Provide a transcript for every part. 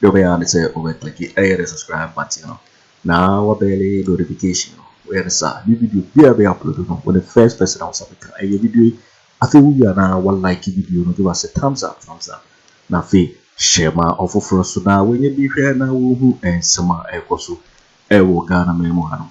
Deɛ wobɛyɛ ara ne sɛ wobɛ click ɛyɛ the subscribe button no na wabɛle notification no woyɛ no saa new video biara bɛyɛ upload no wo the first person a wosa bɛka ɛyɛ video yi afei wowie a na wa like video no give us a thumbs up thumbs up na afei hyɛ ma ɔfoforɔ so na wɔnyɛ bi hwɛ na wɔhu nsɛm a ɛrekɔ so ɛwɔ Ghana man mu hanom.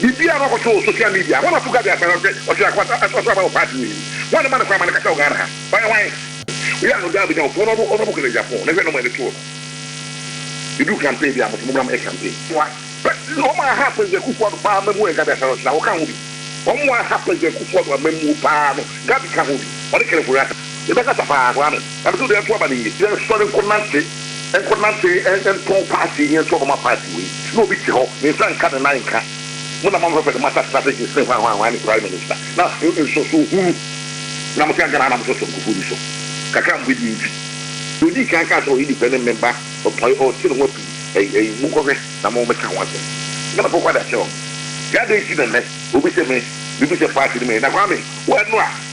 Biribiara no ɔkɔto wɔ social media. Hwan na ɔto Gabby Asare ɔsɛ ɔsɛ akwata ɛso aba wɔ party mu yi? Hwan na ɛma no kwan ma no kasa wɔ Ghana ha? Ɔyɛ hwan? Wei ano daa bɛnya wo pon ɔno ɔno ɔbɔkɔ Niger pon na hwɛ nɔma ɛde too no yɛduru campaign bia moso mommra mɛyɛ campaign moa pɛ ɔmo a aha President Kufuor Addo paa amammuo yɛ Gabby Asare ɔsɛ na wo ka ho bi ɔmo a aha President Kufuor Addo amammuo paa no Gabby ka ho bi ɔne Kenneth Were Asare. Yɛbɛkasa paa, Kwame. Ɛno so deɛ nto aba no nye. Yɛnsɔre nkɔ nante, nkɔ nante ntɔn party yi nto ɔbama party wei. Na obi te hɔ, ne nsa nka ne nan nka. Mo na moama fɛfɛ de moatena strategies ne hwanhwanhwan ne prime minister. Na nsɔsoɔ hunu na mote anka na na mosɔ Sonkofoɔ bi so. Kakra a mobɛ die nti. Deɛ odii kan kaa sɛ ɔyɛ nipa ne member, ɔtɔn, ɔte ne ho api ɛyi ɛyi. Mo nkɔ hwɛ na mo mɛka ho asɛm. Ghanafoɔ kɔ ada kyerɛ wɔn. Nti adɛn nti na nnɛ obi sɛ me, me bu sɛ party no mɛyi. Na Kwame, wo ɛno a.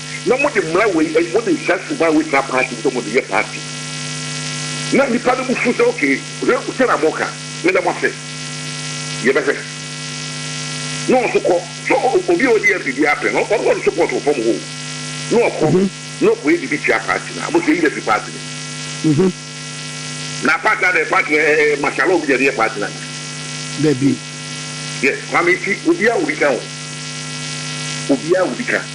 na mode mmara wei, eh, mode saa suban a wɔgyina party sɛ wɔde yɛ party, na nnipa no bo fu sɛ, okay, hwɛ sɛ na moka, meda mo ase, yɛbɛhwɛ. Na ɔnso kɔ, so obi a ɔdi MP biara pɛ no, ɔno na ɔde support wɔ fam hoo, na ɔkɔ, na ɔkɔyɛ biribi tia party no a, mo sɛ yɛyi no afiri party no mu. Na party adɛn, party no, eh, eh, martial law bi na ɛde yɛ party no anaa? Dabi. Yes, Kwame, nti obiara wɔ bi ka o, obiara wɔ bi ka.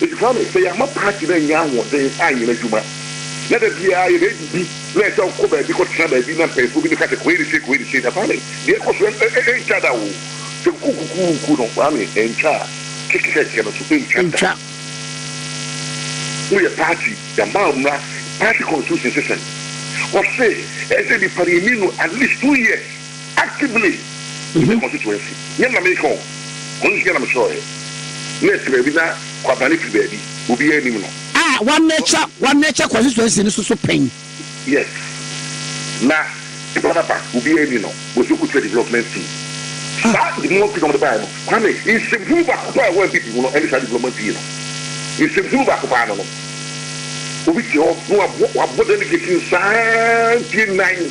Ebisa no, Sɛ yɛama paati no annya ahoɔden anyɛ n'adwuma, na da biara yɛbɛdidi na ɛsɛ sɛ wokɔ baabi kɔtena baabi na mpanyimfoɔ bi no ka sɛ Koiri sei, Koiri sei a, Kwame, deɛ ɛkɔ so no ɛntwa da o. Sɛ kukukukuku no, Kwame, ɛntwa a, kekekɛkɛ no nso ɛntwa da. Woyɛ paati, yɛama wo mmara, paati constitution se sɛn? Wɔse ɛsɛ sɛ nnipa no yɛni no at least two years. Actively in the constituency nyɛ ma meka o, ɔno nso nyɛ na mekyerɛwɛ. Nurse baabi na Kwabena firi baabi, obiara nim no. A wɔnurture wɔnurture constituency no so so pɛn. Yes, na Ekwababa obiara nni no, Boase Okuture development fee. Saa development fee na wɔde baeɛ no, Kwame, nsɛmhunu baako paa a ɛwɔ NPP mu no ɛne saa development fee no. Nsɛmhunu baako paa no no, obi te hɔ na wabɔ delegate no saa mfeɛ nnan.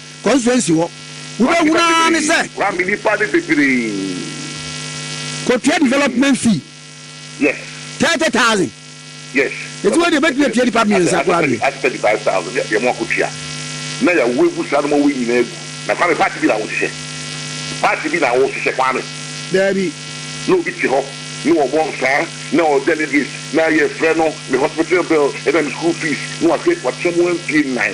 constituency hɔ wobɛhunu ara ne sɛ kɔtua development fee thirty thousand ɛti wei deɛ bɛtumi atua nipa mmiɛnsa koraa deɛ. na yɛawo agu saa nneɛma wei nyinaa agu na kwame party bi na wohyehyɛ party bi na wohyehyɛ kwame daabi na obi te hɔ na ɔbɔ nsaa na ɔ delegate na yɛfrɛ no me hospital bill ɛna me school fees na wahwɛ wakyɛ mu mfie nnan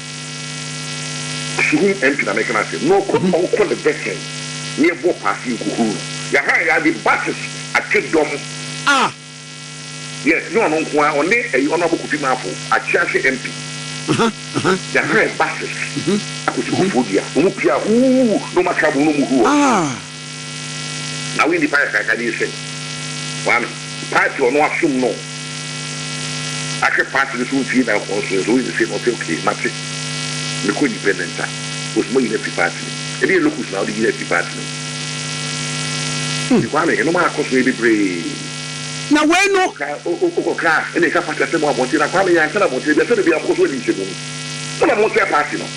Suhum MP na meka no asɛm na ɔkɔ ɔnkɔ ne bɛsɛn na yɛbɔ paase nkuhuru no yɛahan yɛade buses atwe dɔm a yes nyɛ ɔno nko ara ɔne ɛyi Honourable Kofi Marfo Akyeahye MP yɛahan buses akɔsi Kofodua na ɔmo pia huu na ɔmo aka abom na ɔmo hu hɔ. Na woyi nipa kakraka din sen wɔn party ɔno asom no ahwɛ party no so mfie nnanson so nso woyi no sen ɔse okay mate mekɔ independent a ose moyi no afiri party no mu ɛdeɛ locus na wode yi no afiri party no mu Nti Kwame ɛnom a kɔso yɛ bebree. Na wei no. Wokɔ car na ɛka party asɛm wɔ abɔnten na Kwame yɛn ansa na abɔnten biara sɛdeɛ biara mokɔ so adi nsɛmuni mo na mokyerɛ party no.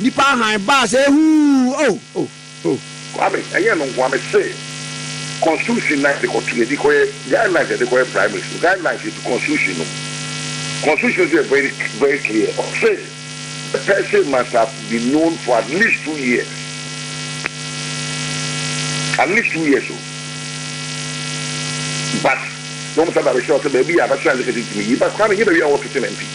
Nnipa hann baa sɛ huu oh oh oh. Kwame, ɛnyɛ ɛno nko ara, mese constitution na yɛde kɔto, yɛde kɔyɛ guidelines, yɛde kɔyɛ primary school guidelines yɛ fi constitution no mu. Constitution no nso yɛ very very clear, ɔse the person must have been known for at least two years, at least two years o, but na wɔn san ba bɛkyerɛw sɛ baabi a bachelor and secretary tumi yi, but Kwame, ɛnyɛ baabi a wɔwɔ kitchen MP.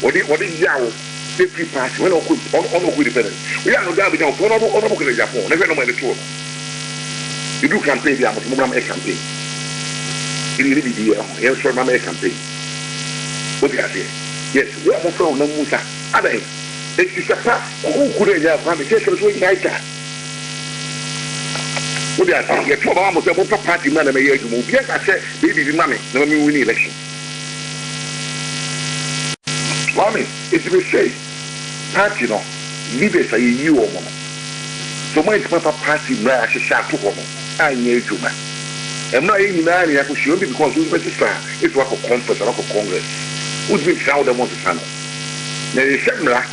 Wɔde wɔde yaw ne free pass wɛn ɔkɔ ɔno ɔno ɔkɔ independent oyɛ ano daa bɛgya ɔpɔn ɔno ɔno ɔkɔ nagya pɔn ne hwɛ nɔma ɛde to ɔno edu campaign bi a mo mona mɛ campaign ebi yɛ ne bibi yɛ ɔho yɛn sɔrɔ ma mɛ campaign odi aseɛ yes yɛ ɔmo fɛ ɔnam mu sa adan eti sɛ pa kuku na ɛnya akwa mi sɛ ɛsɛ sɛ wɔn nyinaa gya odi aseɛ yɛ to ɔba ma mo sɛ mo pɛ party mu na na mɛ yɛ adwuma obi ɛna sɛ bɛ bibi ma mi na mɛ mi win election. Boa me, enti mesɛe party no leaders a yɛyi wɔn no, sɛ wɔn antumi amfa party mmara a yɛahyehyɛ ato hɔ no anyɛ adwuma. Ɛmmra a yɛn nyinaa na yɛakɔhyia obi because wo wobɛsesa a, ebia woakɔ conference anaa woakɔ congress, wontumi nsesa a wode mo nsesa no. Na yɛhyɛ mmara.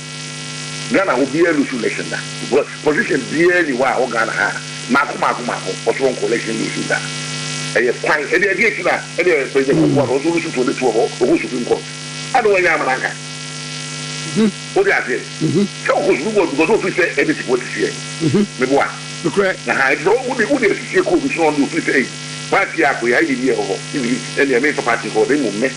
Ghana obiaa lusu election da because position biaa ni hɔ a wɔ Ghana ha a maako maako maako ɔsoronko election lusu da ɛyɛ kwan ɛdeɛ ɛdeɛ ti na ɛdeɛ president Kufuor no ɔso lusu to ne tuo hɔ ɔkɔ supreme court ɛna wanya ama nanka wode aseɛ sɛ ɔkɔ supreme court because ɔfiri sɛ ɛde ti wɔ tisiɛ meboa aha ɛti sɛ wode wode tisiɛ kɔ obi so na ɔde ɔfiri sɛ ɛyi party a kɔ yɛ ayɛ bi ɛwɔ hɔ ɛne ɛme mfa party kɔ hɔ na mmom me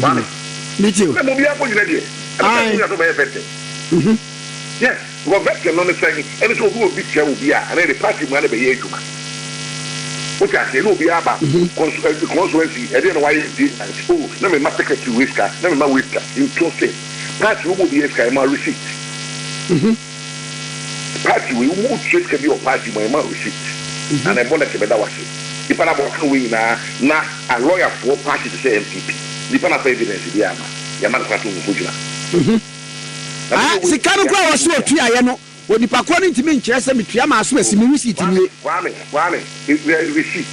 Maame. Me ti o. Sɛ mo biara kɔ gyina deɛ. Ɛna sɛ mo yasɔ bɛyɛ vetting. Mhm. Yes, because vetting no ne sɛn? Ɛne sɛ obi obi kyɛ obi a, ɛna department mu a na bɛyɛ adwuma. Wote aseɛ? Ɛna obi aba kɔnso ɛ kɔnsoɛnsi ɛdeɛ na wayɛ di nanti o na me ma secretary wei sika na me ma wei sika. Nto se party wo bɔ obi yɛ sika yɛ ma receipt. Mhm. Party wei wo wo tua sika bi wɔ party mu a yɛma receipt na na ɛbɔ lɛtɛ bɛda wo ase nipa no abɔ kan wei nyinaa na a lawyer foɔ party te sɛ NPP nipa no afa evidence biaa ma yɛma no kwan sɛ ɔnko gyina na me deɛ Sika no wei koraa a ɔse ɔtuaeɛ no onipa korɔ no ntumi nkyerɛ sɛ metua maa so asi me receipt nie. Kwame, Kwame, Kwame. Yɛkura receipt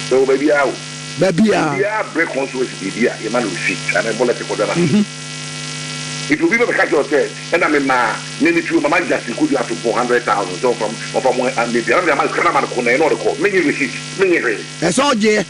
sɛ wɔ baabi ara o. Baabi ara. Obiara brɛ consulency biribi a, yɛma no receipt anaa yɛbɔ lɛtɛ kɔda no ase. Nti obi bɛbɛka akyerɛ wo sɛ, ɛna memaa me me turo mama Justin Kojo Asompong hundred thousand sɛ ɔmfa ɔmfa mo a, mɛdua na mede ama no, sika no ama no ko, na ɛno ɔde kɔ. Mennye receipt, mennye hwee. Ɛsɛ ɔgyeɛ.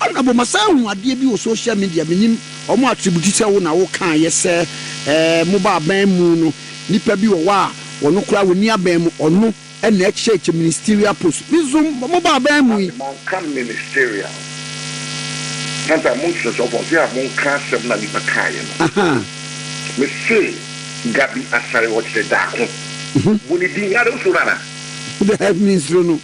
Honourable masan ahu adeɛ bi wɔ social media menim ɔmo attribute sɛ wo na wo kaayɛ sɛ ɛɛ mo ba aban mu no nipa bi wɔ hɔ a ɔno koraa wɔnni aban mu ɔno na ɛkyɛɛkyɛ ministerial post me nso mo ba aban mu yi. Maame manka ministerial santan mo nkyerɛkyerɛ ɔfɔ ɔse a monka asɛm no a nipa kaayɛ no me se Gabi Asare ɔkyerɛ daako bu ne din ada wo suro no ana. Daabi me nsuro no.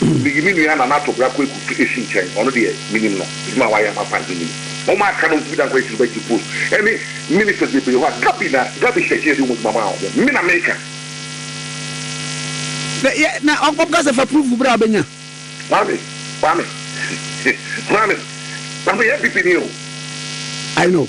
Miyi me nua Nana Tobra Kweku to Esi nkyɛn, ɔno deɛ menim no, adwuma a wayɛ ama Kwanzaa menim. Wɔn a aka no ntumi dankwa Esi bɛgye post ɛne ministers bebree hɔ a Gabi na Gabi Sɛkyɛ de wɔn adwuma maa wɔn. Me na meka. Na yɛ na ɔkɔ kasa fa proof bra bɛnya. Kwame Kwame Kwame Kwame yɛ npp ni o. I know.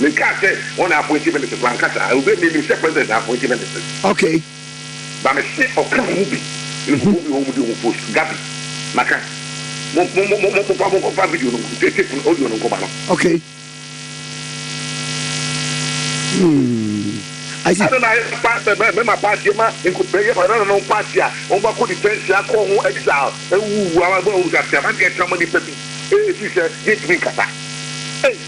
Me kaa sɛ wɔn na appointi ministers ma nka saa obi a me nim sɛ president na appointi ministers. Okay. Ba me se ɔka mo mu bi ne nkurɔfoɔ bi wɔ hɔ wɔn di wɔn post Gabi ma ka mo mo mo mo mo fa mo nkɔ fa video no tape no audio no nkɔ ma no. Okay. Hmm. Ɛna na ayɛ pa mɛma paati ma nkubɛyɛ pa ɛna no paati a wɔn ba kɔ detention akɔ ho exile ɛwuwu awa bɛ ɔwusa sɛ abankɛ ɛtama nipa bi ɛɛ fi sɛ yɛntumi nkasa ɛɛ.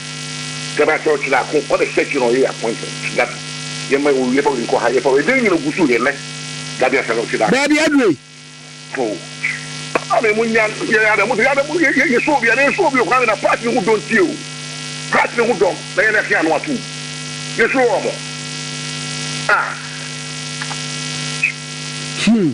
Sɛ ba sɛ ɔkyerɛ ako ɔ dɛ sɛkyerɛ ɔyɛ appointment dabi yɛ ma ɔwie pa ɔyi nkɔ ha yɛ pa ɛdɛ nyina ɔgu so yɛ nɛ dabi asɛ na ɔkyerɛ ako. Baabi aduro yi. Oh papa me mo nya yɛ yɛ adamu sɛ yɛ adamu yɛ yɛ sɔ obi yɛ yɛ sɔ obi ɔkwan na part ne ho dɔn tie o part ne ho dɔn na yɛ na ɛse ano ato yɛ sɔ ɔmo ah. Hmm.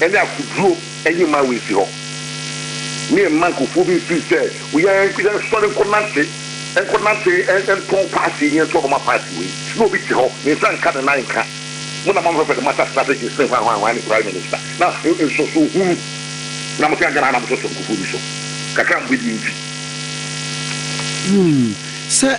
ne akoduro nye mma wɔnsi hɔ, ne mma nkurɔfoɔ bi mfiri sɛ yɛnsɔre nkɔnante, nkɔnante ntɔn paati yi, yɛntɔn Roma paati wei, na obi te hɔ, ne nsa nka, ne nan nka, mo na moamfa fɛde moasase no asɛ gyesene hwanhwanhwan ne prime minister, na nsɔso hunu na mote agana ha na mosɔsɔ nkurɔfoɔ bi so, kakra a mobɛdie nti. Sɛ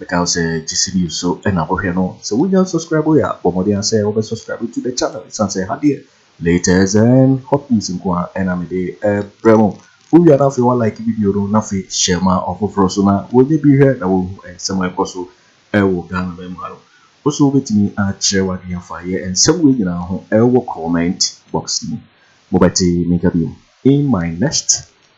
Mekae wo sɛ gye series so na kɔhwɛ no. Sɛ wonya subscribe yɛ a bɔ mmɔden ara sɛ wobɛ subscribe to the channel ɛsiane sɛ ha deɛ latest and hot news nko ara na mede brɛ mo. Wowia no afei wa like video no na afei share ma ɔfoforɔ so na wɔnyɛ bi hwɛ na wɔhu nsɛm a ɛkɔ so wɔ Ghana man mu ha no. Wo so wobɛtumi akyerɛ w'adwene afa yɛ nsɛm wei nyinaa ho wɔ comment box mu. Mobɛte me nka biom in my next.